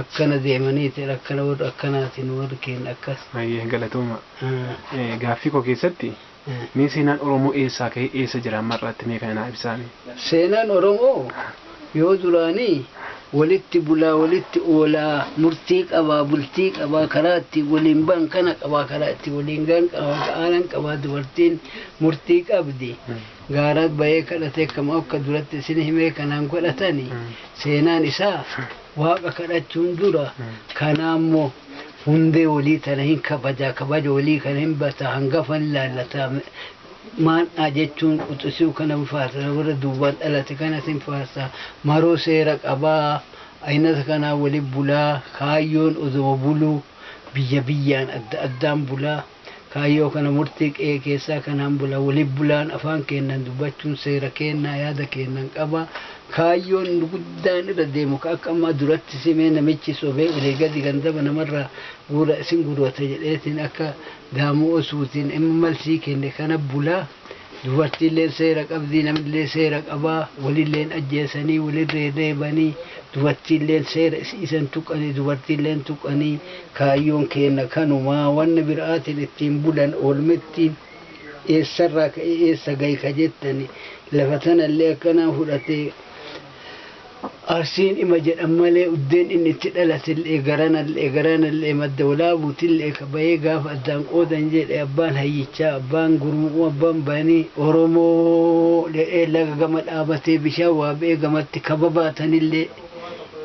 akkana deemaniiti akkana warri akkanaati nu warri keenya akkas. Hayyee galatoomaa. Gaaffii koo keessatti mee seenaan Oromoo eessaa ka'ee eessa jira amma har'aatti mee kana naa ibsaamee. Seenaan Oromoo yoo duraanii walitti bulaa walitti oolaa murtii qabaa bultii qabaa karaa ittiin waliin bahan kana qabaa karaa ittiin waliin gahan qaba ga'aanan qabaa dubartiin murtii qabdi gaaraat bahee kadhatee akkam akka duratti isin himee kanaan godhatani seenaan isaa Waaqa kadhachuun dura kanaa immoo hundee walii tana hin kabajaa kabaja walii kana hin basaa hangafa hin laallataa maandhaa jechuun quxisuu kana hin faarsaa warra duubaan dhalate kanas hin faarsaa maroo seera qabaa aynata kanaa wali bulaa kaayyoon odoma buluu biyya biyyaan adda addaan bulaa Kaayyoo kana murtii qe'ee keessaa kanaan bula waliif bulaan afaan keennan dubbachuun seera keennaa yaada keennan qaba kaayyoon guddaan irra deemu ka akka ammaa duratti simee namichi sobee olii gadi gandaba namarraa guura isin gurwata jedheetiin akka Daamuu Osuutiin MMLC kenne kana bula Dubartiilleen seera qabdi, namillee seera qaba, wolillee hin ajjeesanii, wolirra hin reebanii, dubartiilleen seera isi'iisa hin tuqanii, dubartiillee hin tuqanii, kaayyoon keenna kanuma, wanna bira'aatiin ittiin bulan oolmetti, eessarraa ka'ee eessa gaye ka jettani, lafa tanallee akkanaan fudhatee, Arsiin ima jedhan malee uddeen inni itti dhalate'llee, garana'llee, garaana'llee, madda walaabuuti'llee ka bayee gaafa addaan qoodan jedhe abbaan hayyichaa, abbaan gurmu'uu, abbaan banii Oromoo'llee laga gama dhaabatee bishaan waabe'ee gamatti ka babaatan'llee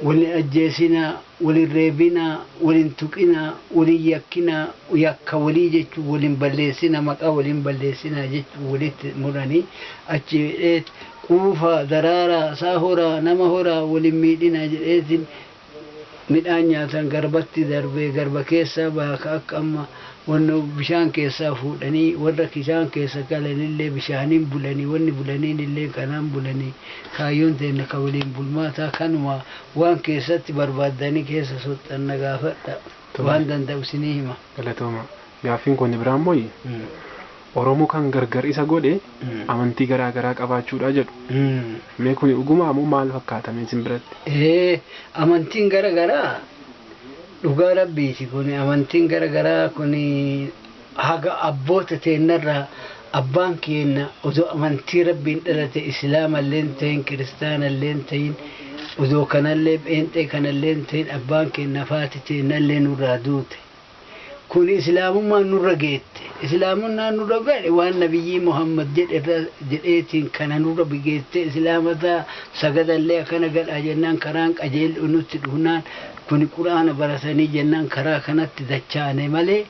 wal hin ajjeesinaa, wal hin reebinaa, wal hin tuqinaa, wal hin yakkinaa, yakka walii jechuun wal hin balleessinaa, maqaa walii hin balleessinaa jechuun walitti muranii achii jedheet quufaa, daraaraa, isaa horaa, nama horaa, wal hin miidhinaa jedheetiin midhaan nyaatan garbatti darbee garba keessaa baha ka akka amma wanno bishaan keessaa fuudhanii warra kishaan keessa galanillee bishaaniin bulanii wanni bulaniinillee kanaan bulanii kaayyoon teenna ka waliin bulmaataa kanumaa Waan keessatti barbaaddanii keessa soxxan na gaafadhaa. Tole. Waan danda'u isinii hima. Galatoomaa. Gaaffiin koo inni biraa immoo Oromoo kan gargar isa godhe amantii garaa garaa qabaachuudha jedhu. Mee kuni dhugumaa moo maal fakkaata mee isin biratti? Ee, amantiin gara garaa dhugaa rabbiiti kuni amantiin gara garaa kuni haga abboota teennarraa abbaan keenna odoo amantii Rabbiin dhalate islaamalleen tahin kiristaanalleen tahin odoo kanallee pheenxee kanalleen tahin abbaan keennaaf haati teennallee nurraa duute kuni islaamummaan nurra geette islaamumnaan nurra gahe waan nabiyyii muhammad jedherra jedheetiin kana nurra geettee islaama taha sagadallee akkana gadhaa jennaan karaan qajeel'u nutti dhufnaan kuni qur'aana baratanii jennaan karaa kanatti dachaane malee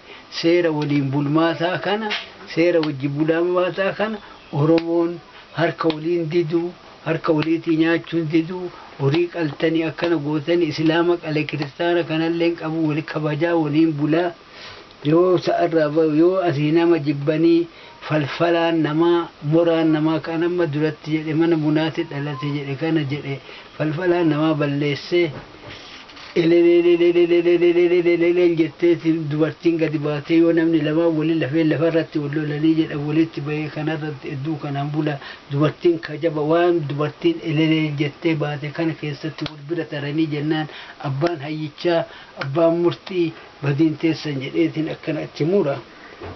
Seera waliin bulmaataa kana, seera wajjin bulmaataa kana Oromoon harka waliin diduu, harka waliitii nyaachuun diduu, horii qaltani akkana gootani Islaama qale Kiristaana kanalleen qabu wal kabajaa waliin bulaa, yoo sa'arraa bahu yoo asii nama jibbanii falfalaan namaa, moraan namaa kan amma duratti jedhe mana bunaati dhalate jedhe kana jedhe falfalaan namaa balleessee, Elelelelelelelelelelelelel jettee ti dubartiin gadi baatee yoo namni lamaan wali lafee lafa irratti wal lolanii jedhan walitti bahee kana irratti hedduu kanaan bula. Dubartiin kajaba waan dubartiin eleleel jettee baate kana keessatti wal bira taranii jennaan abbaan hayyichaa, abbaan murtii, badiin teessan jedhee tiin akkana itti mura.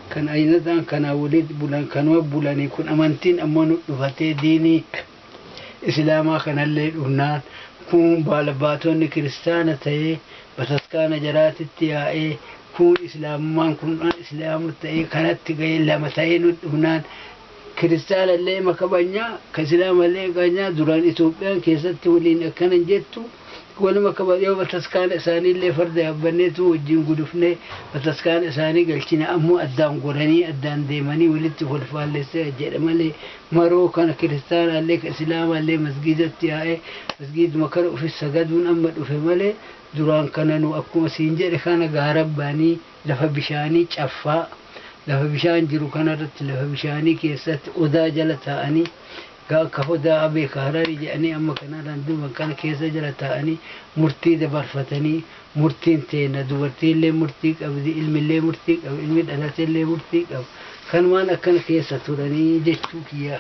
Kan ayinataan kanaan walitti bulan kanuma bulanii kun amantiin ammoo nu dhufatee diinii. Isilaamaa kanallee dhufnaan kuun baalabbaatoonni kiristaana ta'ee bataskaana jaraatitti yaa'ee kuun Islaamummaan kun an Islaamu ta'ee kanatti ga'ee lama ta'ee nut dhufnaan kiristaanallee ima kabanyaa ka Isilaamallee kabanyaa duraan Itoophiyaan keessatti waliin akkana hin jettu waluma kaba yoo bataskaana isaaniillee farda yaabbanneetu wajjin gudufnee bataskaana isaanii galchina ammoo addaan goranii addaan deemanii walitti kolfaallessee jedha malee maroo kana kiristaanaallee ka isilaamaallee masgiidatti yaa'ee masgiiduma kana ufis sagaduun amma dhufe malee duraan kana nu akkuma siin jedhe kana gaarabbaanii lafa bishaanii caffaa lafa bishaan jiru kanarratti lafa bishaanii keessatti odaa jala taa'anii gaa akka hodaa abee ka hararii jedhanii amma kanarraan duuban kana keessa jala taa'anii murtii dabarfatanii Murtiin teenna dubartiin'llee murtii qabdi, ilmi'llee murtii qaba, ilmi dhalate'llee murtii qaba. Kanumaan akkana keessa turanii jechuu kiyya.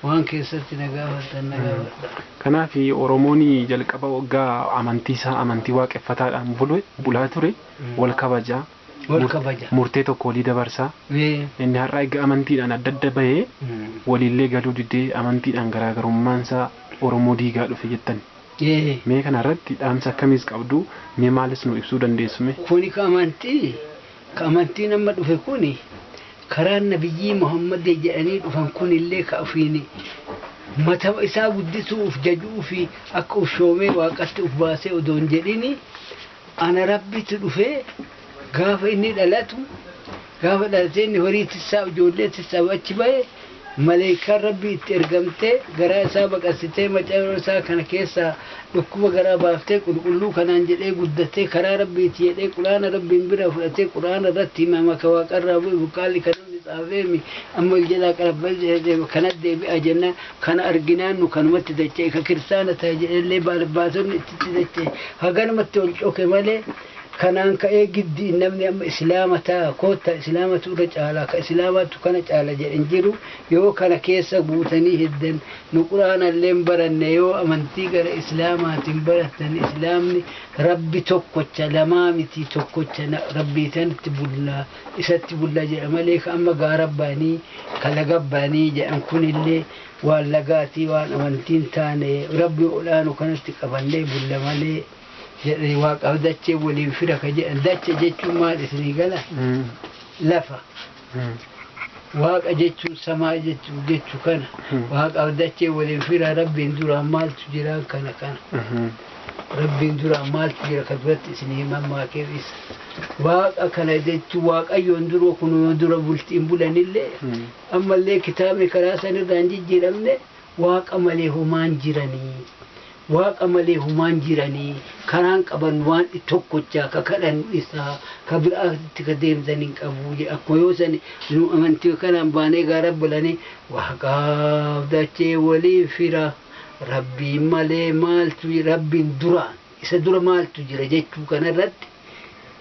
Waan keessatti na gaafattan na gaafadhaa. Kanaaf Oromoon jalqaba woggaa amantii isaa amantii Waaqeffataadhaan bule, bulaa ture, wol kabaja, Wol kabaja. murtee tokko wolii dabarsa. Ee. Inni har'a eega amantiidhaan adda adda bahee, woliillee galuu didee amantiidhaan garaagarummaan isaa Oromoo diigaa dhufe jettanii? D. Mee kana irratti dhaamsa akkamiis qabdu? Mee maalis nuu ibsuu dandeessu mee? Kuni ka amantii, ka amantiin amma dhufe kuni, karaan nabiyyii Muhammadii jedhanii dhufan kunillee ka ufiin mata isaa guddisuu uf jaju'uu fi akka uf shoomee waaqatti uf baasee odoo hin jedhinii, Ana Rabbitu dhufee gaafa inni dhalatu, gaafa dhalatee inni horii tissaa, ijoollee tissaa achi bahe, maleeykaan Rabbii itti ergamtee garaa isaa baqassitee macayo isaa kana keessaa dhukkuba garaa baaftee qulqulluu kanaan jedhee guddatee karaa Rabbiiti jedhee qur'aana Rabbiin biraa fudhatee qur'aana irratti himama ka waaqarraa bu'e burqaanni ka namni tsaafeemi amma ol jalaa qarabba'ee kana deebi'a jennaan Kana arginaan nu kanumatti dacha'e ka kiristaana tahe jedhellee baalbbaatonni ittitti dacha'e haganumatti ol coke malee kanaan ka'ee giddiin namni amma islaama taha koottaa islaamatu irra caalaa ka islaamaattu kana caala jedhe hin jiru yoo kana keessa guutanii hiddan nu quraanallee hin baranne yoo amantii gara islaamaatiin barattan islaamni rabbi tokkocha lamaa miti tokkocha na- rabbiitantti bulla isatti bulla jedha malee ka amma gaara ba'anii ka laga ba'anii jedhan kunillee waan lagaatii waan amantiin taane rabbi ol'aanu kanatti qabannee bulla malee jedhanii waaqaaf dachee waliin fira ka jedhan dacha jechuun maal isinii gala lafa waaqa jechuun samaa jechuu jechu kana waaqaaf dachee waliin fira rabbiin duraan maaltu jiraan kana kana Rabbiin duraa maaltu jira ka duratti isin hin mammaakeef isa. Waaqa kana jechuun waaqayyoon duroo kunuma dura bultiin bulanillee ammallee kitaabni karaa san irraa hin jijjiiramne waaqa malee homaan jiranii. Waaqa malee homaan jiranii karaan qaban waan tokkochaa ka kadhan isaa ka biraatti ka deemtan hin qabu jedhe. Akkuma yoo sani nu amantii kanaan baanee gaara bulanii waaqaaf dachee waliin fira. Rabbiin malee maaltu jira, Rabbiin duraan, isa dura maaltu jira jechuu kana irratti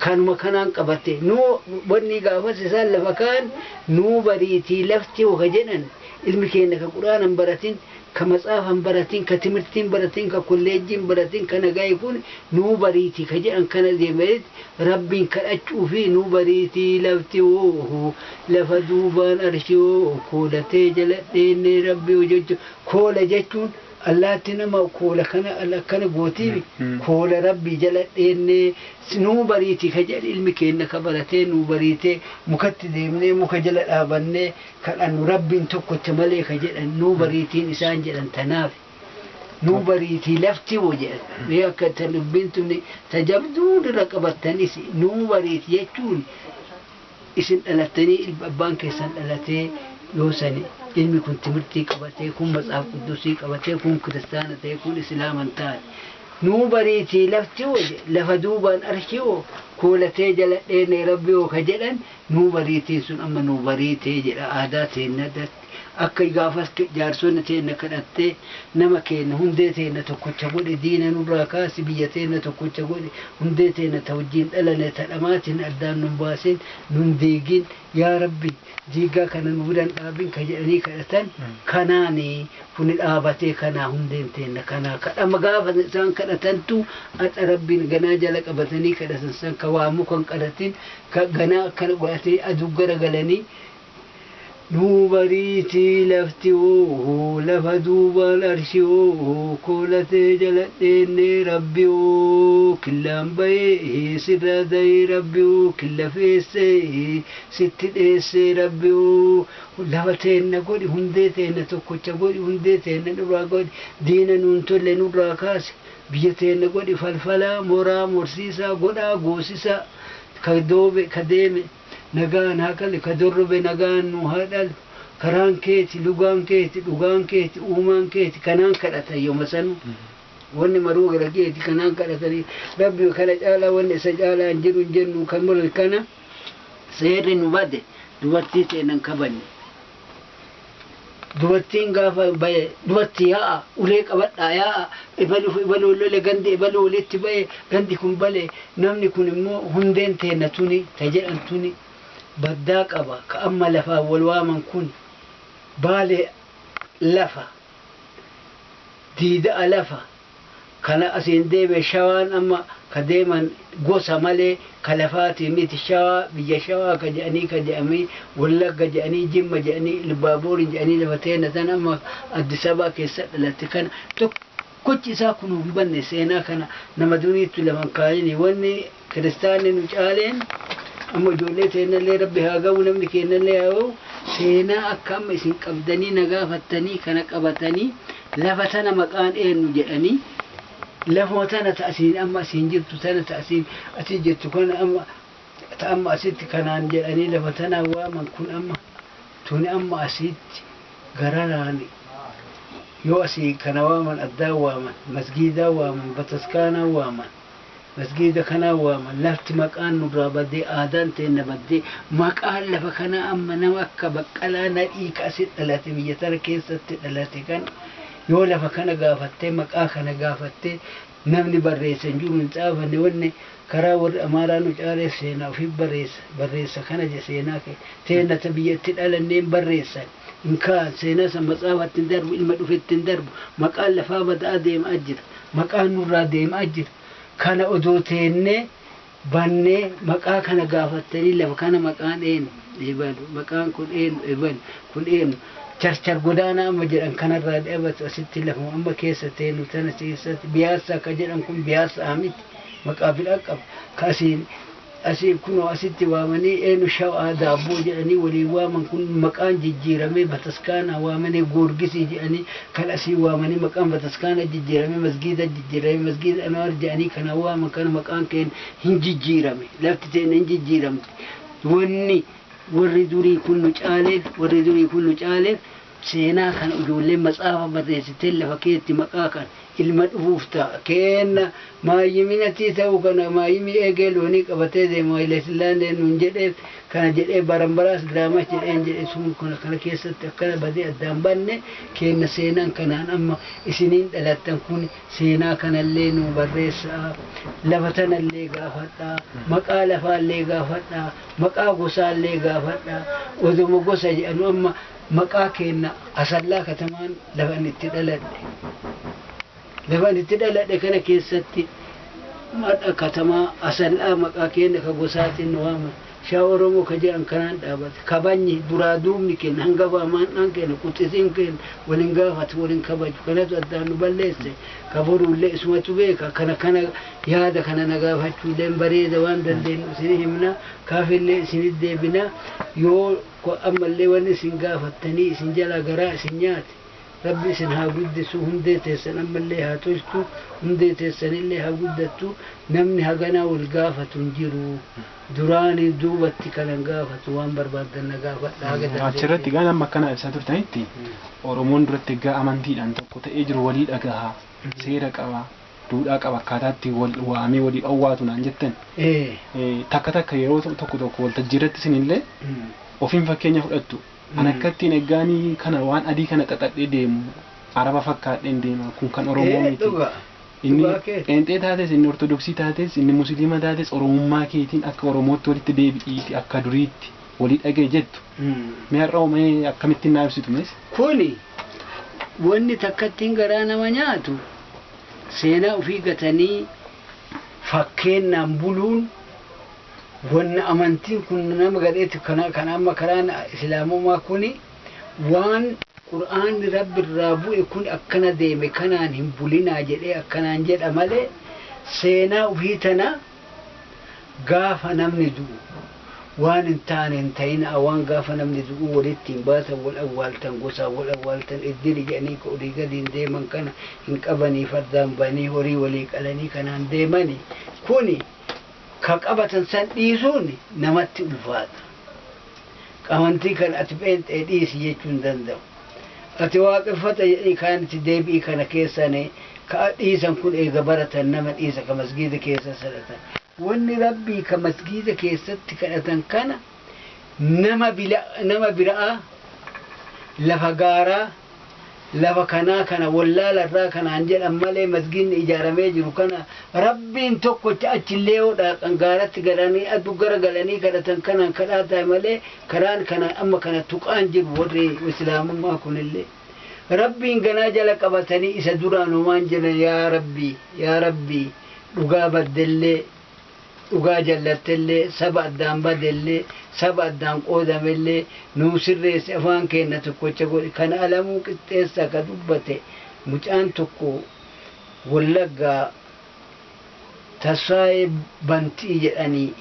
kanuma kanaan qabatte. Nuu wanni gaafas isaan lafa kaan nuu bariitii lafti hoo ka jedhan ilmi keenna ka Qur'aana hin baratin, ka matsaafa hin baratin, ka timirtii hin baratin, ka kolleejjii hin baratin, ka nagaye kun nuu bariitii ka jedhan kana deebi'aniit Rabbiin kadhachuufii nuu bariitii lafti hoo lafa duubaan arshii hoo koolatee jala dheennee Rabbii hojachuu Koola jechuun allaatti nama koola kana al akkana gootiimi koola rabbii jala dheennee nuu bariiti ka jedhe ilmi keenna ka baratee nuu bariitee mukatti deemnee muka jala dhaabannee kadhannu rabbiin tokkocha malee ka jedhan nuu bariitiin isaan jedhan tanaafi nuu bariitii lafti moo jedhan mee akka ta dubbiin tuni ta jabduu irra qabattanisi nuu bariiti jechuun Isin dhalattanii ilmi abbaan keessan dhalatee yoo sani ilmi kun timirtii qabatee kun matsaaf quddusii qabatee kun kiristaana ta'ee kun islaama hin taane nuu bariitii lafti hoo je lafa duubaan arshii hoo koolatee jala dheene rabbi hoo ka jedhan nuu bariitiin sun amma nuu bariitee jedha aadaa teenna Akki gaafas jaarsonni teenna kadhattee, nama keenna, hundee teenna tokkocha godhi, diina nurraa kaasi, biyya teenna tokkocha godhi, hundee teenna ta wajjiin dhalane ta dhamaatiin addaan nun baasin, nun diigin, yaa Rabbi diiggaa kana nu biran dhaabin ka jedhanii kadhatan kanaani kuni dhaabatee kanaa hundeen teenna kanaa kadhama gaafa isaan kadhatantu adha Rabbiin ganaa jala qabatanii kadhatan san ka waa muka hin qaratin ka ganaa akkana godhatee aduu gara galanii Nuu bariiti lafti ooho lafa duubaan arshi ooho koola tee jala dheennee rabbi ooh killaan bayee sirraa dayee rabbi ooh killa feessee sitti dheessee rabbi ooh lafa teenna godhi hundee teenna tokkocha godhi hundee teenna nurraa godhi diina nuun tolle nurraa kaasi biyya teenna godhi falfalaa moraa morsiisaa godhaa goosisaa ka doobe ka deeme nagaan haa qali ka dorrobe nagaan nuu haa dhalu karaan keeti lugaan keeti dhugaan keeti uumaan keeti kanaan kadhatan yoma sanu wanni maruu gara keeti kanaan kadhatani rabbi kana caalaa wanni isa caalaa hin jiru hin jennu kan kana seerri nu bade dubartii teenan kabajne. Dubartiin gaafa baye dubarti yaa'a ulee qabadhaa yaa'a ebaluuf ebaluun lole gandi ebaluu walitti baye gandi kun bale namni kun immoo hundeen teenna tuni ta jedhan tuni baddaa qaba ka amma lafaan wal waaman kuni baale lafa diida'a lafa kana asiin deeme shawaan amma ka deeman gosa malee ka lafaatii miti shawaa biyya shawaa ka jedhanii ka jedhamii wallagga jedhanii jimma jedhanii ilbaaboorii jedhanii lafa teenna tana amma addisabaa keessa dhalatte kana tokkochi isaa kunuu hin banne seenaa kana nama duriittu lafa hin kaayini wanni Kiristaanni nu caaleen amma ijoollee teennallee Rabbi haa gahu namni keennallee haa gahu seenaa akka amma isin qabdanii na gaafattanii kana qabatanii lafa tana maqaan eennu jedhanii lafuma tana ta asiin amma asiin jirtu tana ta asiin asii jettu kana amma ta amma asitti kanaan jedhanii lafa tanaa waaman kun amma tuni amma asiitti gararaan yoo asii kana waaman addaa waaman masgiidaa waaman bataskaanaa waaman masgiida kanaa waama lafti maqaan nurraa badee aadaan teenna baddee maqaan lafa kanaa amma nama akka baqqalaa nadhii ka asi dhalate biyya tana keessatti dhalate kan yoo lafa kana gaafattee maqaa kana gaafattee namni barreessa hin jiru hin xaafanne wanne karaa warri amaaraa nu caalee seenaa ofii barreessa barreessa kana je seenaa kee teenna ta biyya itti dhalanneen barreessan hin kaa'an, seenaa san matsaafatti hin darbu, ilma dhufetti hin darbu, maqaan lafaa bada'aa deema'aa jira. Maqaan nurraa deema'aa jira. Kana odoo teennee, bannee, maqaa kana gaafattanii lafa kana maqaan eenu? Ebalu. Maqaan kun eenu? Ebalu. Kun eenu? Charchar godaanaa amma jedhan kanarraa dhabatu asitti lafuma amma keessa teennu tana keessatti biyaassaa ka jedhan kun biyaassa'a miti. Maqaa biraa qaba. Ka asiin Asiif kunoo asitti waamanii eenu shawaa daabboo jedhanii waliin waaman kun maqaan jijjiiramee bataskaanaa waamanii goorgisii jedhanii kan asii waamanii maqaan bataskaanaa jijjiiramee masgiida jijjiiramee masgiida anuwaar jedhanii kana waaman kana maqaan keenya hin jijjiirame lafti teenna hin jijjiiramte wanni warri durii kun nu caaleef warri durii kun nu caaleef Seenaa kana ijoolleen matsaafa barreessiteen lafa keetti maqaa kan ilma dhufuuf ta, keenna. Maayyimi natii ta'uu kana maayyimi eegee loonii qabatee deema Hayilesillaaneen nuun jedheef kana jedhee Barambaraas Giraamash jedheen jedhe sun kana kana keessatti akkana badee addaan banne keenna seenaan kanaan amma isiniin dhalattan kun seenaa kanallee nuu barreessaa lafa tanallee gaafadhaa maqaa lafaallee gaafadhaa maqaa gosaallee gaafadhaa odoma gosa jedhanu amma Maqaa keenna Asallaa katamaan lafa ani itti dhaladhe. Lafa ani itti dhaladhe kana keessatti madha katamaa Asallaa maqaa keenna ka gosaatiin nu waaman, Shaa Oromoo ka jedhan kanaan dhaabate. Kabajni, duraa duubni keenna, hangafa amaandhaan keenna, quxisiin keenna wal hin gaafatu, wal hin kabaju. Kanatu addaan nu balleesse. Ka boruullee isumatu beeka. Kana kana yaada kana na gaafachuulleen bareeda waan dandeennu isinii himna. Kaafillee isinii deebina. Yoo. ko ammallee wanni isin gaafattanii isin jalaa garaa isin nyaate rabbi isin haa guddisuu hundee teessan ammallee haa tolchuu hundee teessanillee haa guddattuu namni haganaa wal gaafatu hin jiru duraanii duubatti kanan gaafatu waan barbaaddan na gaafadha haga dandeettan. Achirratti egaa amma akkana ibsaa turtanitti Oromoon duratti egaa amantiidhaan tokko ta'ee jiru walii dhagaha seera qaba duudhaa qaba akkaataa itti wal waamee waliif awwaatu naan jettan. Ee. Eh, Takka takka yeroo to- tokko tokko waltajjii irratti isinillee Mm. ofiin fakkeenya fudhattu. An Mm. akka ittiin eggaanii kana waan adii kana xaxadhee deemu araba fakkaadheen deema kun kan Oromoo Ee, miti. dhugaa. Inni Dhugaa kee. pheenxee taates inni ortodoksii taates inni musliima taates oromummaa keetiin akka oromootti walitti deebi'iiti akka duriitti walii dhagee jettu. Mm. Mee har'a mee akkamittiin naa ibsitu mees? Kuni Wanni takkattiin garaa nama nyaatu seenaa ufii gatanii fakkeennaan buluun wanna amantiin kun nama gadheetu kana kan amma karaan islaamumaa kuni waan qur'aanni rabbi irraa bu'e kun akkana deeme kanaan hin bulinaa jedhee akkanaan jedha malee seenaa ufii tana Gaafa namni du'u waan hin taane hin ta'inaa waan gaafa namni du'uu wal ittiin baatan wal awwaaltan gosaan wal awwaaltan iddili jedhanii ka olii gadiin deeman kana hin qabanii fardaan ba'anii horii walii qalanii kanaan deemani kuni ka qabatan san dhiisuun namatti ulfaata qamantii kan ati pheenxee dhiisi jechuu hin danda'u. Ati waaqeffata jedhii kaanitti deebi'i kana keessani ka'a dhiisan kun eega baratan nama dhiisa ka masgiida keessa salatan wanni rabbii ka masgiida keessatti kadhatan kana nama bila nama bira'aa lafa gaaraa lafa kanaa kana wallaala irraa kanaan jedhan malee masgiinni ijaaramee jiru kana rabbiin tokkocha achillee yoo dhaaqan gaaratti galanii addu gara galanii kadhatan kanaan kadhaa taa'e malee Karaan kanaan amma kana tuqaan jiru warri Islaamummaa kunillee Rabbiin ganaa jala qabatanii isa duraan homaan jedhan yaa Rabbii yaa Rabbii dhugaa baddellee dhugaa jallattellee saba addaan badellee saba addaan qoodamellee nuu sirreessi afaan keenna tokkocha godhi kan Alamuu Qixxeessaa ka dubbate mucaan tokko Wallaggaa Tasfaayee Bantii jedhanii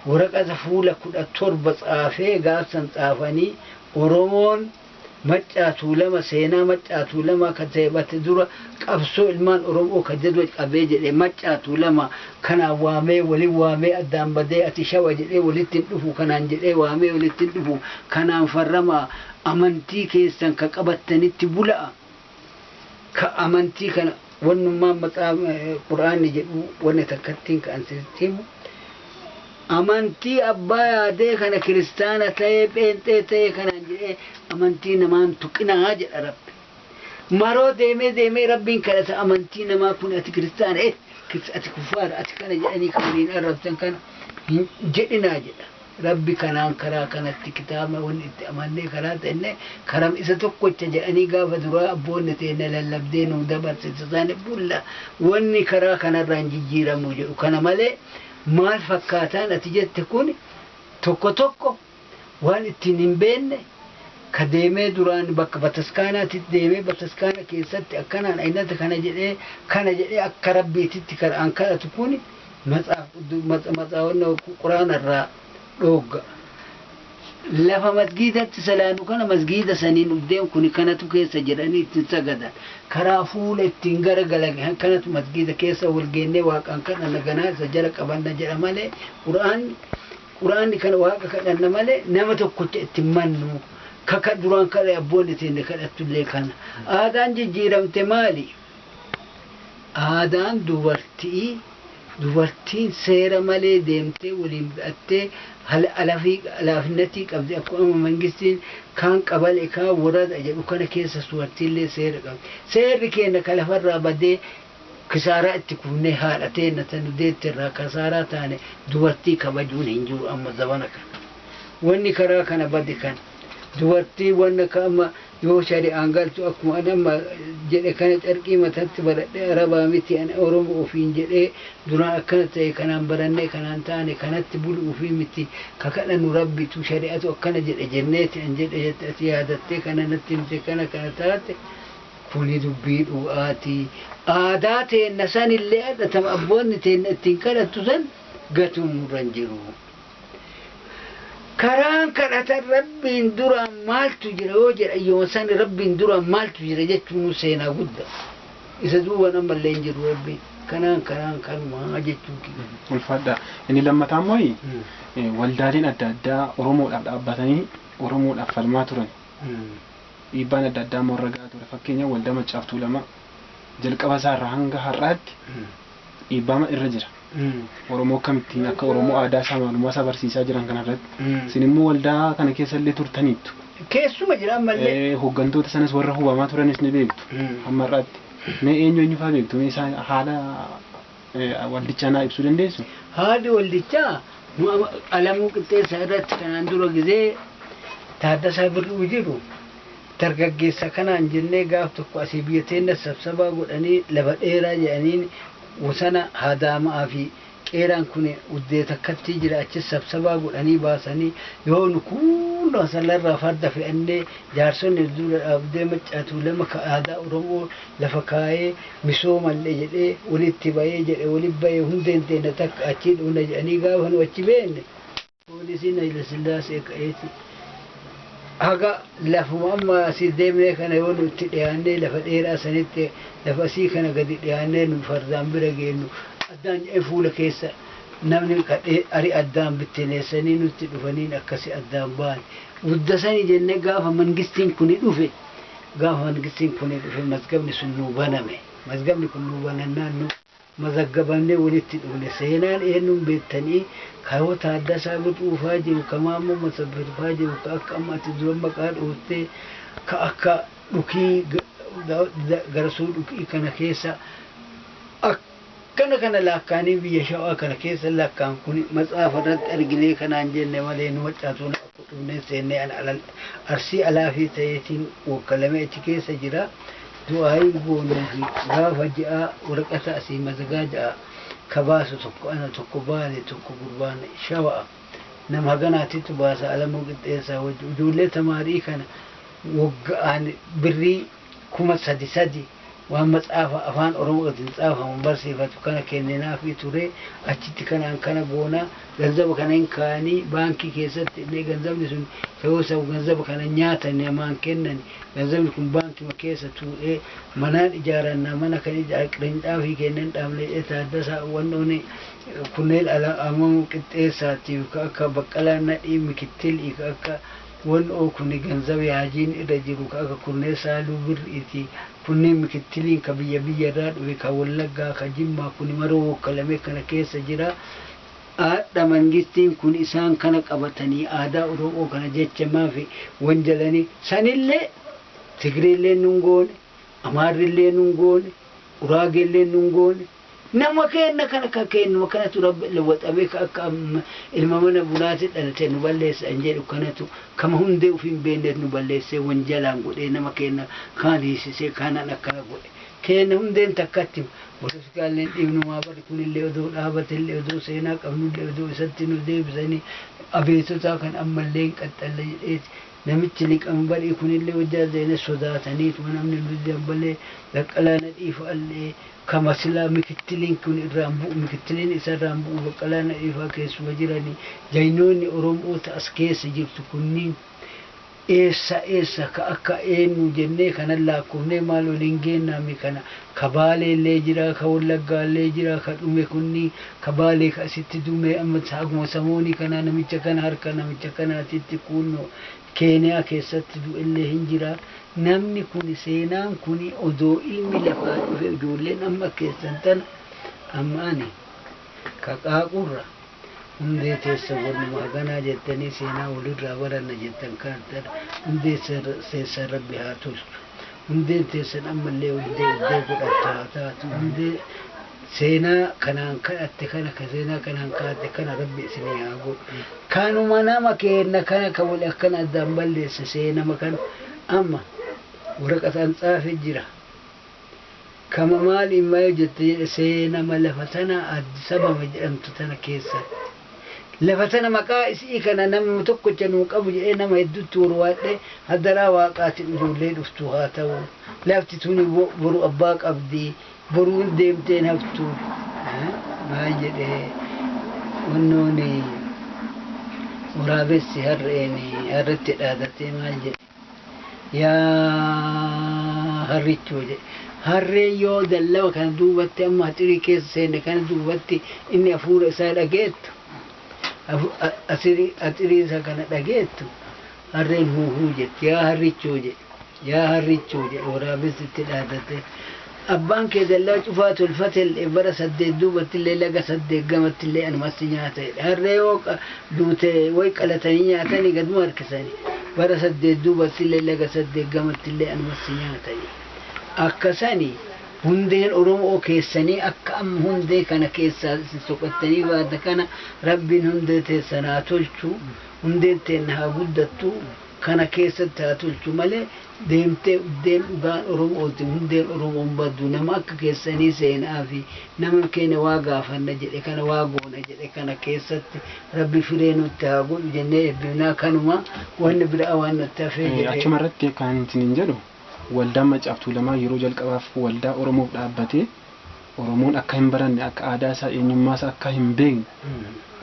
waraqata fuula 17 tsaafee gaaf san tsaafanii Oromoon Maccaa Tuulama seenaa Maccaa Tuulamaa ka ta'e bate dura qabsoo ilmaan Oromoo ka jedhu qabee jedhe Maccaa Tuulama kanaan waamee walin waamee addaan badee ati Shawa jedhee walitti hin dhufu kanaan jedhee waamee walitti hin dhufu kanaan farramaa amantii keessan ka qabattanitti bula'a ka amantii kana wannummaan maxaaf qur'aanni jedhu wanni takkattiin ka ansitti himu amantii abbaa yaadee kana kiristaana ta'ee pheenxee ta'ee kanaan jedhee amantii namaan tuqinaa jedha rabbi maroo deemee deemee rabbiin kadhata amantii namaa kun ati kiristaana eh ati kufaara ati kana jedhanii kan waliin arrabsan kana hin jedhinaa jedha Rabbi kanaan karaa kanatti kitaabna wonni itti amannee karaa tenne karam isa tokkocha jedhanii gaafa duraa abboonni teenna lallabdee nuu dabarsite san bulla wonni karaa kanarraa hin jijjiiramuu jedhu kana malee maal fakkaataan ati jette kun tokko tokko waan ittiin hin beenne ka deemee duraan bakka bataskaanaatitti deemee bataskaana keessatti akkanaan aynata kana jedhee kana jedhee akka rabbiititti karaan kadhatu kun Matsaaf quddu mat matsaawwanna ku quraana irraa dhoogga. Lafa masgiidatti salaannu kana masgiida saniin ubdeen kuni kanatu keessa jedhanii itti hin sagadan. Karaa fuula ittiin gara galan kanatu masgiida keessa wal geennee waaqaan kadhanna ganaa isa jala qabanna jedha malee quraanni quraanni kana waaqa kadhanna malee nama tokkocha itti hin mannu. Ka ka duraan kadha abboonni teenne kadhattu illee kana. Aadaan jijjiiramte maali? Aadaan dubarti'ii, dubartiin seera malee deemtee wolii mudhattee halafinatii qabdi akkuma mangistiin kaan qabale kaan worada jedhu kana keessa suwartiillee seera qabdi. Seerri keenna ka lafarraa badee kisaaraa itti kufnee haadha teenna ta nu deette irraa kasaaraa taane dubartii kabajuun hin jiru amma zabana kana. Wonni karaa kana bade kana. Dubartii wonna ka amma Yoo shari'aan galtu akkuma ani amma jedhe kana carqii matatti baradhee arabaa miti ani oromo ofiin jedhee duraan akkana ta'e kanaan barannee kanaan taane kanatti bulu ufii miti ka kadhannu rabbitu shari'atu akkana jedhe jenneeti an jedhe jette ati yaadattee kana natti himte kana kana taate kuni dubbii dhugaati aadaa teenna sanillee adhatam abboonni teenna ittiin kadhattu san gatuun nurra hin jiru. Karaan kadhatan Rabbiin duraan maaltu jira yoo jedhan yooma sani Rabbiin duraan maaltu jira jechuun seenaa gudda. Isa duuban ammallee hin jiru Rabbiin. Kanaan karaan kanumaa jechuu kiyya. Ulfaadhaa. Inni lammataa immoo eh, waldaaleen adda addaa Oromoodhaaf dhaabbatanii Oromoodhaaf falmaa turan. Dhiibbaan adda addaa immoo irra gahaa ture. Fakkeenyaaf waldaa Maccaaf Tuulamaa jalqaba isaa irraa hanga har'aatti dhiibbaa irra jira. Oromoo akkamittiin akka Oromoo aadaa isaa maalumaa isaa barsiisaa jiran kana irratti. Isin immoo waldaa kana keessa illee turtaniittu. Keessuma jira ammallee. Eh, Hooggantoota sanas warra hubamaa turanis ni beektu. Hamma har'aatti. Mee eenyu eenyu fa'aa beektu? Mee isaan haala eh, waldichaa naa ibsuu dandeessu? Haadhi waldichaa nu ama- Alamuu Qixxeessaa irratti kanaan dura gizee Taaddasaa Birruu jiru Dargaggeessa kanaan jennee gaaf tokko asii biyya teenna sabsabaa godhanii lafa dheeraa jedhaniin wosana haadaama'aa fi qeeraan kun uddee takkattii jira achis sabsabaa godhanii baasanii yoo nu kuunnoo asallarraa farda fe'annee jaarsonni nu dura dhaabdee Maccaa Tuulama ka aadaa Oromoo lafa kaayee misoomanle jedhee wolitti bayee jedhe wolitti bayee hundeen teenna takka achii dhufna jedhanii gaafa nu achi beenne Poolisiin Hayilasillaasee ka'eeti haga lafuma amma asii deemnee kana yoo nutti dhiyaannee lafa dheeraa sanitti lafa asii kana gadi dhiyaannee nu fardaan bira geennu addaan jedhee fuula keessa namni kadhee ari addaan bittineessanii nutti dhufaniin akkasi addaan ba'an. Guddasanii jennee gaafa mangistiin kuni dhufe gaafa mangistiin kuni dhufe mazgabni sun nuu baname. Mazgabni kun nuu banannaan nu mazaggabamnee walitti dhufne. Seenaan eennun beektanii? Ka yoo Taaddasaa Wixuu faa jiru, ka Maammoo Masabbir faa jiru, ka akka amma ati duran maqaa dhooyte, ka akka Dhukii, Garasuu Dhukii kana keessa akkana kana laakkaanii biyya Shawaa kana keessa lakkaan kun matsaafa irratti arginee kanaan jenne malee nu Maccaatuu laakku dhufneen seennee an Arsii Alaafii ta'eetiin wokkalamee achi keessa jira. Du'aa'ii goonuufi gaafa ji'aa waraqata asii mazagaaja'aa ka baasu tokko ana tokko baale tokko gurbaan shawa'a nama haganaatitu baasa Alamuu Qixxeessaa wajji ijoollee tamaarii kana wogga'aan birrii kuma sadi sadi waan matsaafa afaan oromootiin tsaafamu barsiifatu kana kenninaafii turee achitti kanaan kana goonaa ganzaba kana hin kaayani baankii keessatti illee ganzabni sun ta'uu isaaf ganzaba kana nyaatani namaan kennani ganzabni kun baankima keessa tuu'ee manaan ijaarannaa mana kan ijaa qirincaafi keenya hin dhaabne jedhee Taaddasaa wannooni kunneen ala ammoo qixxeessaatiif ka akka Baqqalaa Nadhii Mikittili ka akka wannoo kuni ganzabi haajiin irra jiru ka akka Kurnee Saaluu Birriiti kunniin Mikittiliin ka biyya biyya irraa dhufe ka Wallaggaa ka Jimmaa kuni maruu wokkalamee kana keessa jira Aadha mangistiin kun isaan kana qabatanii aadaa oromoo kana jecha maafi wanjalani sanillee tigreelleen nun goone amaarrillee nun goone uraageelleen nun goone nama keenna kana ka keennuma kanatu rabbi lewwaxamee ka akka ilma mana bunaati dhalate nu balleessa an jedhu kanatu kama hundee ufii hin beenneet nu balleessee wanjalaan godhee nama keenna kaan hiisisee kaanaan akkana godhe Keenya hundeen takkatti boloskaallee hin dhiifnu maa barri kunillee odoo dhaabatellee odoo seenaa qabnullee odoo isatti nu deebisanii abeetotaa kan ammallee hin qaxxalle jedheeti namichi liqan barii kunillee hojjaa zeene sodaataniituma namni nu didan balee Baqqalaa Nadhii fa'allee kama silaa mikittiliin kun irraan bu'u mikittiliin isa irraan bu'u Baqqalaa Nadhii fa'a keessuma jiranii jagnoonni Oromoota as keessa jirtu kunniin Eessa eessa ka akka eennu jennee kanan laakkofnee maal waliin geennaa mi kana ka Baaleellee jira ka Wallaggaallee jira ka dhume kunni ka Baalee ka asitti dume amma haguma samoonii kanaa namicha kana harka namicha kanaatitti kuunno Keeniyaa keessatti du'ellee hin jira namni kuni seenaan kuni odoo ilmi lafaa dhufe ijoolleen amma keessan tana amma ani qaqaaqurra hundee teessan wanuma haganaa jettanii seenaa walirraa baranna jettan kaattan hundee teessan rabbi haa tolchu hundeen teessan ammallee hundee uddee godhattu haa taatu hundee seenaa kanaan kadhatte kana ka seenaa kanaan kaatte kana rabbi isinii haa godhu kanuma nama keenna kana ka wal akkana addaan balleesse seenama kana amma waraqataan xaafe jira kama maali imma yoo jette jedhe seenama lafa tana Addis Ababa jedhamtu tana keessatti lafa tana maqaa isi'ii kana namuma tokkocha nuu qabu jedhee nama hedduutti worwaadhe hadaraa waaqaatiin ijoollee dhuftuu haa ta'u lafti tuni bo- boru abbaa qabdi boruun deemteen haftu Eh, maal jedhee wannooni waraabessi harreeni harretti dhaadatee maal jedhe Yaa harrichoo jedhe. Harreen yoo dallaba kana duubatti amma haxirii keessa seenne kana duubatti inni hafuura isaa dhageettu, hafu- a- asirii- haxirii isa kana dhageettu, harreen huuhuu jetti. Yaa harrichoo jedhe. Yaa harrichoo jedhe waraabessi itti dhaadate. Abbaan kee dallaa cufaa tolfatelle, bara saddeet duubattille laga saddeet gamattille anumatti nyaata jedhe. Harree yoo duute woy qalatanii nyaatanii gaduma harkisani, bara saddeet duubattille laga saddeet gamattille anumatti nyaata jedhe. Akka sani hundeen Oromo'oo keessanii akka amma hundee kana keessaa isin soqattanii baate kana Rabbiin hundee teessan haa tolchu, hundeen teenna haa guddattu, kana keessatti haa tolchu malee deemtee uddeen dhugaan oromooti hundeen oromoon baddu nama akka keessanii seenaa fi nama keenya waa gaafanna jedhe kana waa goona jedhe kana keessatti rabbi firee nutti haa godhu jennee ebbifnaa kanuma wanni biraa waan natti hafee Eh, jedhee Achuma irratti kan isiniin jedhu waldaan Maccaa fi Tuulamaa yeroo jalqabaaf waldaa Oromoof dhaabbatee Oromoon akka hin baranne, akka aadaa isaa, eenyummaa isaa akka hin beekne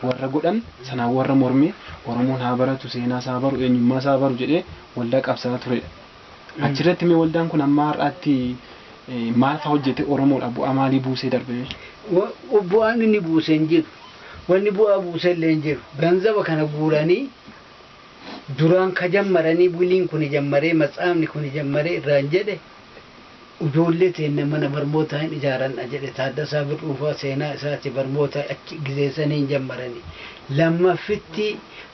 warra godhan sanaan warra mormee Oromoon haa baratu, seenaa isaa haa baru, eenyummaa isaa haa baru jedhee waldaa qabsaa'aa turedha. Achirratti mee waldaan kun amma har'aatti eh, maal fa'aa hojjetee Oromoodhaaf bu'aa maalii buusee darbe mee? Wa- bu'aan inni buuse hin jiru. Wanni bu'aa buuse illee hin jiru. Ganzaba kana guuranii duraan ka jammaranii buliin kuni jammaree matsaafni kuni jammaree irraan jedhe Ujoollee teenna mana barmootaa hin ijaaranna jedhe Taaddasaa Birruufaa seenaa isaati barmoota achi gizee saniin jammarani. Lammaffitti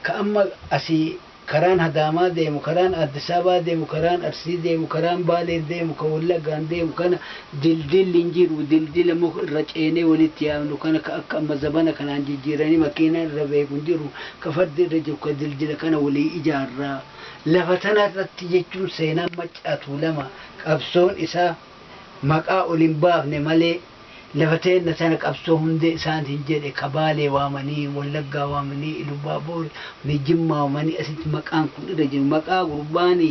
ka amma asii karaan Hadaamaa deemu, karaan Aaddisaabaa deemu, karaan Arsii deemu, karaan Baalee deemu, ka Wallaggaan deemu kana dildilli hin jiru. Dildila muka irra ceenee walitti yaabnu kana ka akka amma zabana kanaan jijjiiranii makiinaan irra beeku hin jiru. Ka fardi irra jiru ka dildila kana walii ijaarra. Lafa tana irratti jechuun seenaan Maccaa Tuulamaa qabsoon isaa maqaa ol hin baafne malee lafa teenna tana qabsoo hundee isaan hin jedhe ka Baalee waamanii, Wallaggaa waamanii, Ilubaaboor waamanii, Jimmaa waamanii asitti maqaan kun irra jiru maqaa gurbaan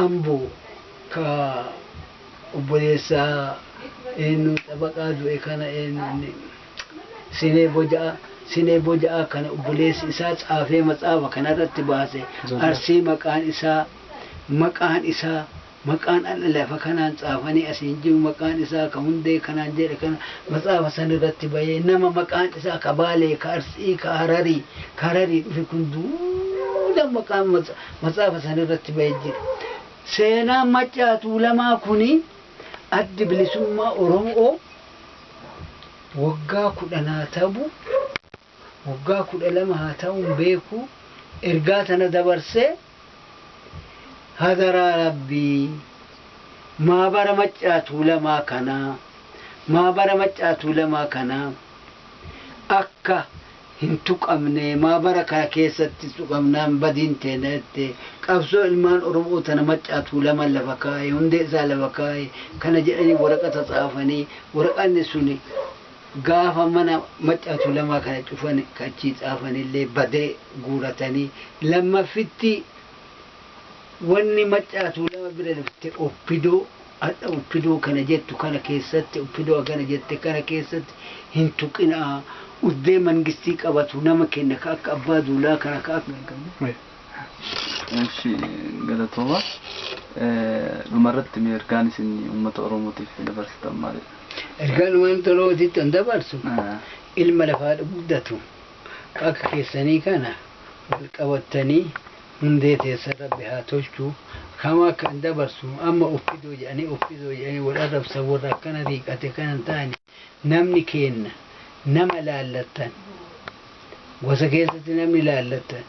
Amboo ka obboleessa eennu xabaqaa du'e kana eennu inni. Sinee Boja'aa, Sinee Boja'aa kana obboleessi isaa caafee matsaafa kana irratti baase, Arsii maqaan isaa, maqaan isaa, maqaan adha lafa kanaan caafanii asi hin jiru, maqaan isaa ka Hundee kanaan jedhe kana matsaafa san irratti bahee, nama maqaan isaa ka Baalee, ka Arsii, ka Hararii, ka Hararii dhufe kun duula maqaan matsaafa san irratti bahe jira. Seenaan Maccaa Tuulamaa kuni Addi Bilisummaa Oromoo waggaa kudhan haa tabu waggaa kudha lama haa ta'uun beeku ergaa tana dabarsee hadaraa rabbii maabara maccaa tuulamaa kanaa maabara maccaa tuulamaa kanaa akka hin tuqamnee maa bara kana keessatti tuqamnaan badiin teena jettee qabsoo ilmaan oromoo tana maccaa tuulaman lafa kaaye hundee isaa lafa kaaye kana jedhanii waraqata tsaafanii waraqanni suni gaafa mana maccaa tuulamaa kana cufan ka achii tsaafanillee badee guuratanii lammaffitti Wanni maccaa tuulama bira dabarte opdo hadha opdo kana jettu kana keessatti opdo hagana jette kana keessatti hin tuqinaa udbee mangistii qabatu nama kenna ka akka abbaa duulaa kana ka akka Eshi galatooma. Dhumarratti mee ergaan isin uummata Oromootiif dabarsitan maalidha? Ergaan uummata Oromootitti an dabarsu ilma lafaa guddatu ka akka keessanii kana wal qabattanii Hundee teessan rabbi haa tolchu. Kama kan dabarsu amma opdo jedhanii opdo jedhanii wal arrabsan warra akkana riiqate kana hin taane namni keenna nama laallattan gosa keessatti namni laallattan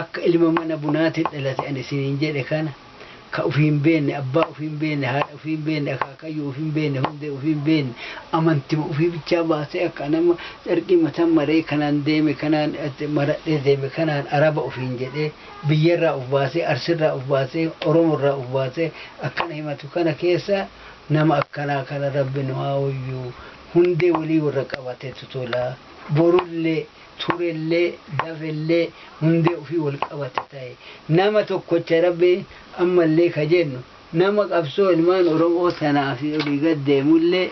akka ilma mana bunaatiin dhalate ani isiniin jedhe kana ka ufii hin beenne, abbaa ufii hin beenne, haadha ufii hin beenne, akaakayyuu ufii hin beenne, hundee ufii hin beenne, amantima ufii bichaa baasee akka ani amma carqii mataan maree kanaan deeme kanaan maradhee deeme kanaan araba ufiin jedhee biyya irraa uf baasee arsi irraa uf baasee oromo irraa uf baasee akkana himatu kana keessa nama akkanaa kana rabbi nu haa oyyuu hundee walii warra qabatetu tola borullee turellee, dafellee, hundee ufii wal qabate tahe. Nama tokkocha Rabbiin ammallee ka jennu, nama qabsoo ilmaan Oromoo tanaaf olii gad deemullee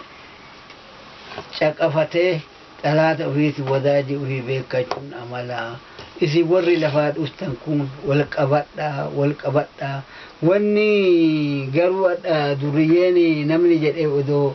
caqafatee xalaata ufiitiin wadaajii ufii beekkachuun amala. Isin warri lafaa dhuftan kun wal qabadhaa, wal qabadhaa. Wanni garuu adha durriyyeen namni jedhee odoo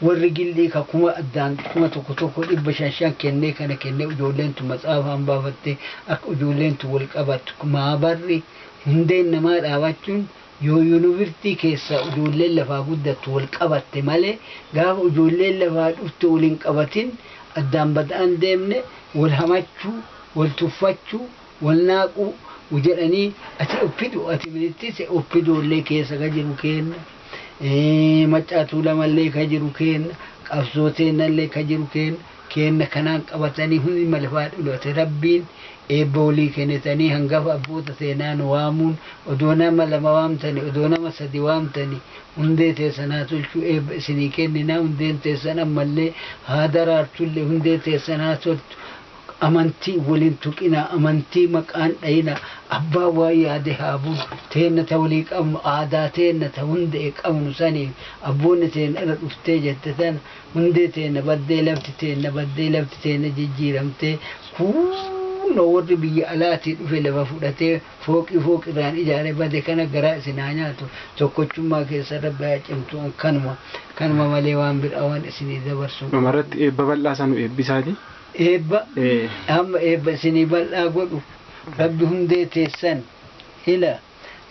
Warri Gil'ii ka kuma addaan kuma tokko tokko dhibba shan shan kennee kana kennee ijoolleen tun matsaafaan baafattee akka ijoolleen tun wal qabattu maabarri hundeen namaa dhaabachuun yoo yunivirtii keessaa ijoolleen lafaa guddattu wal qabatte malee gaafa ijoolleen lafaa dhufte wal hin qabatin addaan bad'aan deemne wal hamachuu wal tuffachuu walnaaquu jedhanii ati oppido ati minitise oppido illee keessa ka jiru keenna maccaa tuulama illee ka jiru keenna qabsoo teenna illee ka jiru keenna keenna kanaan qabatanii hundi malafaa dhulate rabbiin eebba walii kenitanii hangafa abboota teenaa nu waamuun odoo nama lama waamtani odoo nama sadi waamtani hundee teessan haa tolchuu eebba isinii kenninaa hundeen teessan ammallee haa daraartullee hundee teessan haa toltu Amantii wal hin tuqinaa, amantii maqaa hin dhayinaa, abbaan waan yaade haa bulu, teenna ta walii qabnu, aadaa teenna ta hundee qabnu saniif, abboonni teenna irra dhuftee jette tana, hundee teenna baddee, lafti teenna baddee, lafti teenna jijjiiramtee, kuunoo warri biyya alaatii dhufe lafa fudhatee fooqii fooqi irraan ijaare bade kana garaa isin haa nyaatu, tokkochummaa keessan Rabbi haa cimsu, an kanuma, kanuma malee waan biraa waan isinii dabarsu hin Dhuma qabu. irratti eebba bal'aa isa nu eebbisaati. Eebba hamma eebba isinii bal'aa godhu Rabbi hundee teessan ila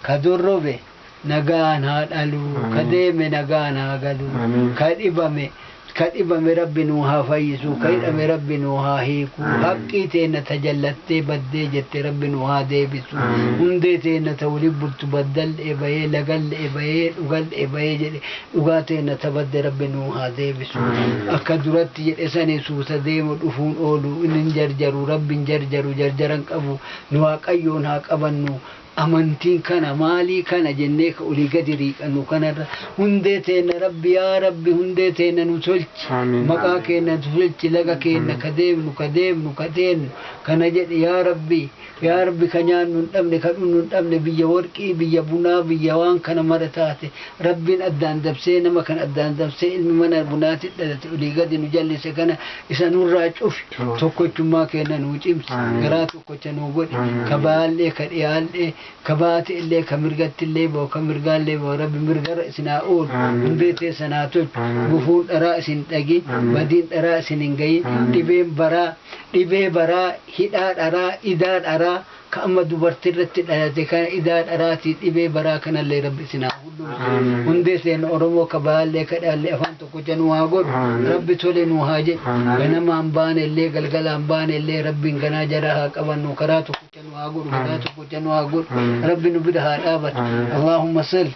Ka dorrobe nagaan haa dhalu Ka deeme nagaan haa galu Ka dhibame Ka dhibame Rabbi nuu haa fayyisu Ka hidhame Rabbi nuu haa hiiku Haqqii teenna ta jallattee baddee jette Rabbi nuu haa deebisu Hundee teenna ta woliin bultu Baddalle'e bayee lagalle'e bayee dhugalle'e bayee jedhe Dhugaa teenna ta badde Rabbi nuu haa deebisu. Akka duratti jedhe sani suuta deemu dhufuun oolu inni hin jarjaru Rabbi hin jarjaru jarjara hin qabu nu Waaqayyoon haa qabannu amantiin kana maalii kana jennee ka olii gadi riiqannu kanarra hundee teenna Rabbi yaa Rabbi hundee teenna nu tolchi Aamiin. maqaa keenna nu tolchi laga keenna ka deemnu ka deemnu ka teennu kana jedhi yaa Rabbi Yaa Rabbi ka nyaannu hin dhabne ka dhunnu hin dhabne biyya worqii biyya bunaa biyya waan kana mara taate Rabbiin addaan dabsee nama kana addaan dabsee ilmi mana bunaati dhalate olii gadi nu jallise kana isa nurraa cufi tokkochummaa keenna nuu cimsi garaa tokkocha nuu godhi ka bahaallee ka dhiyaallee ka bahaati'llee ka mirgattillee bahu ka mirgaallee bahu Rabbi mirgarra isin haa oolu hundee teessan haa tolchu gufuun dharaa isin hin dhagin badiin dharaa isin hin gayin dhibeen baraa Dhibee baraa, hidhaa dharaa, idaa dharaa, ka amma dubarti irratti dhayate kana idaa dharaati, dhibee baraa kanallee Rabbi isin haa hundumtu, hundee teenna Oromoo ka baallee ka dhaallee afaan tokkocha nuu haa godhu, Rabbi tole nuu haa jedhu, ganamaan baanellee galgalaan baanellee Rabbiin ganaa jara haa qabannu, karaa tokkocha nu haa godhu, garaa tokkocha nu haa godhu, Rabbi nu bira haa dhaabatu. Allaahumma salli.